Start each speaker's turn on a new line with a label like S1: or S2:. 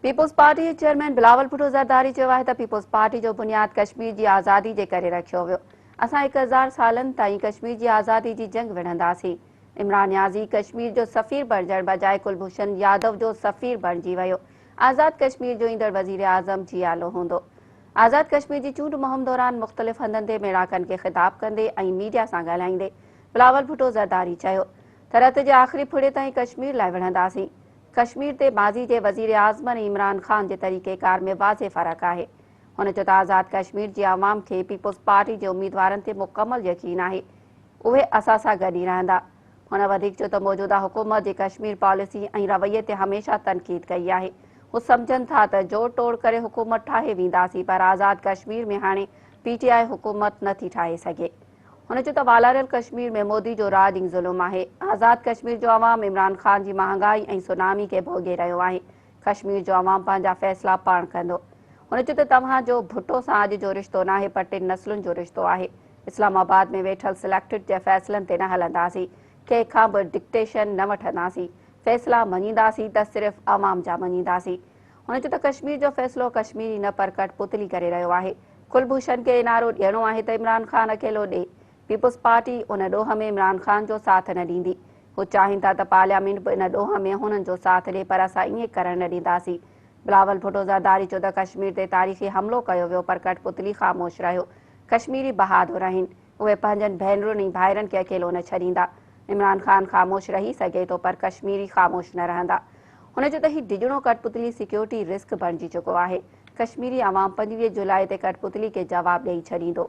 S1: Peoples party جي chairman Bilawal Bhutto Zardari چيو آهي ته پيپلز پارٽي جو بنياد ڪشمير جي آزادي جي ڪري رکيو ويو اسان هڪ هزار سالن تائين ڪشمير جي آزادي جي جنگ وڙهنداسين عمران نيازي ڪشمير جو سفير بڻجڻ بجاء ڪلڀوشن يادو جو سفير بڻجي ويو آزاد ڪشمير جو ايندڙ وزير اعظم جيالو هوندو آزاد ڪشمير جي چونڊ مهم دوران مختلف هنڌن تي ميڙاڪن کي خطاب ڪندي ۽ ميڊيا سان ڳالهائيندي بلاول ڀٽو زرداري چيو ته رت جي آخري ڦڙي تائين ڪشمير لاء وڙهنداسين. ڪشمير تي ماضي جي وزيراعظم ۽ عمران خان جي طريقيڪار ۾ واضح فرق آهي. هن چيو ته آزاد ڪشمير جي عوام کي پيپلز پارٽي جي اميدوارن تي مڪمل يقين آهي. اهي اسان سان گڏ ئي رهندا. هن وڌيڪ چيو ته موجوده حڪومت جي ڪشمير پاليسي ۽ رويي تي هميشه تنقيد ڪئي آهي. هو سمجهن ٿا ته جوڙ ٽوڙ ڪري حڪومت ٺاهي وينداسين پر آزاد ڪشمير ۾ هاڻي پي ٽي آء حڪومت نٿي ٺاهي سگهي. هن چيو ته والاريل ڪشمير ۾ مودي جو راڄ ئي ظلم آهي، آزاد ڪشمير جو عوام عمران خان جي مهانگائي ۽ سونامي کي ڀوڳي رهيو آهي، ڪشمير جو عوام پنهنجا فيصلا پاڻ ڪندو. هن چيو ته توهان جو ڀٽو سان اڄ جو رشتو ناهي پر ٽن نسلن جو رشتو آهي، اسلام آباد ۾ ويٺل سليڪٽڊ جي فيصلن تي نه هلنداسين، ڪنهن کان به ڊڪٽيشن نه وٺنداسين، فيصلا مڃينداسين ته صرف عوام جا مڃينداسين. هن چيو ته ڪشمير جو فيصلو ڪشميري نه پر ڪٺ پتلي ڪري رهيو آهي، ڪلڀوشن کي اين آر او ڏيڻو آهي ته عمران خان اڪيلو ڏئي، پيپلز پارٽي ان ڏوهه ۾ عمران خان جو ساٿ نه ڏيندي، هو چاهين ٿا ته پارليامينٽ به ان ڏوهه ۾ هنن جو ساٿ ڏئي پر اسان ائين ڪرڻ نه ڏينداسين، بلاول ڀٽو زرداري چيو ته ڪشمير تي تاريخي حملو ڪيو ويو پر ڪٺ پتلي خاموش رهيو، ڪشميري بهادر آهن. اهي پنهنجن ڀينرن ۽ ڀائرن کي اڪيلو نه ڇڏيندا. عمران خان خاموش رهي سگهي ٿو پر ڪشميري خاموش نه رهندا. هن جو ته هي ڊڄڻو ڪٺپتلي سيڪيورٽي رسڪ بڻجي چڪو آهي. ڪشميري عوام پنجويهه جولاء تي ڪٺپتلي کي جواب ڏئي ڇڏيندو.